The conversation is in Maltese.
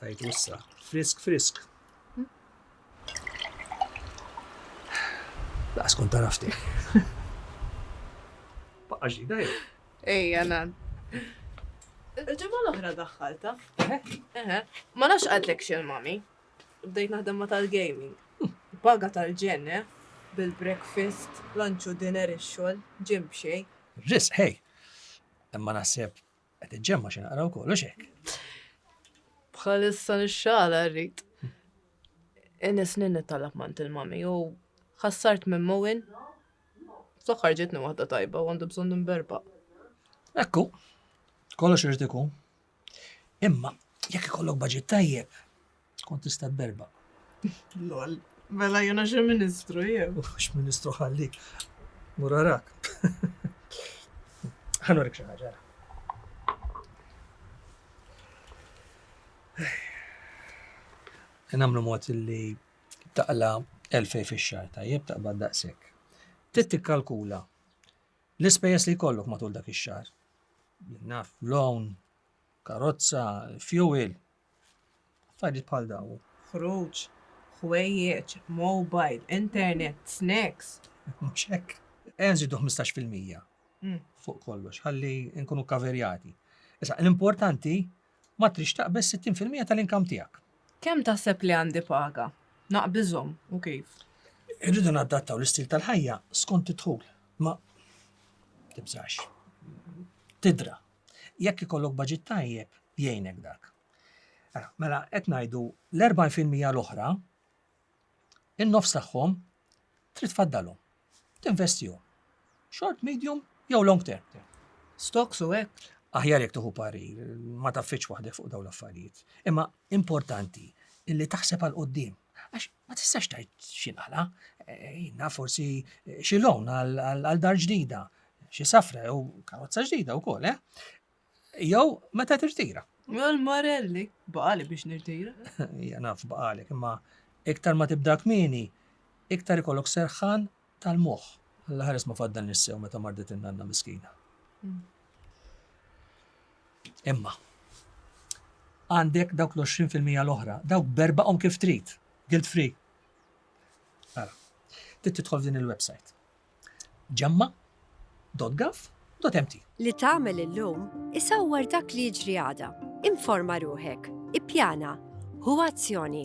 Tajtu issa. Frisk, frisk. Laqas kont tarafti. Baqqa ġdida jew? Ejja, nan. Il-ġimgħa l-oħra daħħalta. Eħe. Ma nafx għadlek xil mami. Bdejt naħdem ma tal-gaming. Paga tal-ġen, eh? Bil-breakfast, lunch u dinner ix-xogħol, ġim b'xejn. Ris, hej. Imma naħseb Qed iġġemma xi naqra wkoll u xek. Bħalissa nixxala rrid. Inni snin nittalab mant il-mami u ħassart minn mowin. Fl-aħħar ġietni waħda tajba u għandu bżonn nimberba. Ekku, kollox irid ikun. Imma jekk ikollok baġit tajjeb, Tkun tista' tberba. Lol. Mela jiena xi ministru jien. Mhux ministru ħalli. Murarak. Ħanurik xi ħaġa. Nagħmlu mod li taqla elfej fix-xahar tajjeb taqbad daqshekk. Trid tikkalkula l-ispejjeż li jkollok matul dak ix-xahar. Naf loan, karozza, fuel, Affarijiet bħal dawn. Ħruġ, ħwejjeġ, mobile, internet, snacks. Mhux hekk? Ejja nżidu ħmistax fil-mija fuq kollox ħalli nkunu kaverjati. Issa, l-importanti ma trix taqbeż sittin fil-mija tal-inkam tiegħek. Kemm taħseb li għandi paga? Naqbiżhom u kif? Irridu nadattaw l-istil tal-ħajja skont id-dħul. Ma tibżax. Tidra. Jekk ikollok budget tajjeb, jgħinek dak. Mela, mela qed ngħidu l-40% l-oħra, in-nofs tagħhom trid faddalhom. Tinvestihom. Short, medium jew long term. Stocks u hekk aħjar jekk tuħu pari, ma taffiċ waħdek fuq dawn l-affarijiet. Imma importanti illi taħseb għal qoddim. Għax ma tistax tajt xinqala, jina forsi xi lawn għal dar ġdida, xi safra jew karozza ġdida wkoll, eh? Jew meta tirtira. Għal Marelli, baqali biex nirtira. Ja naf baqali, imma iktar ma tibda kmini, iktar ikollok serħan tal-moħħ. Alla ħares ma faddal nissew meta mardet in-nanna miskina. Imma għandek dawk l-20 fil-mija l-oħra, dawk berbaqhom kif trid, guilt free. Ara, trid tidħol f'din il-website. Ġemma.gov.mt Li tagħmel illum isawwar dak li jiġri għada. Informa ruħek, ippjana, ħu azzjoni.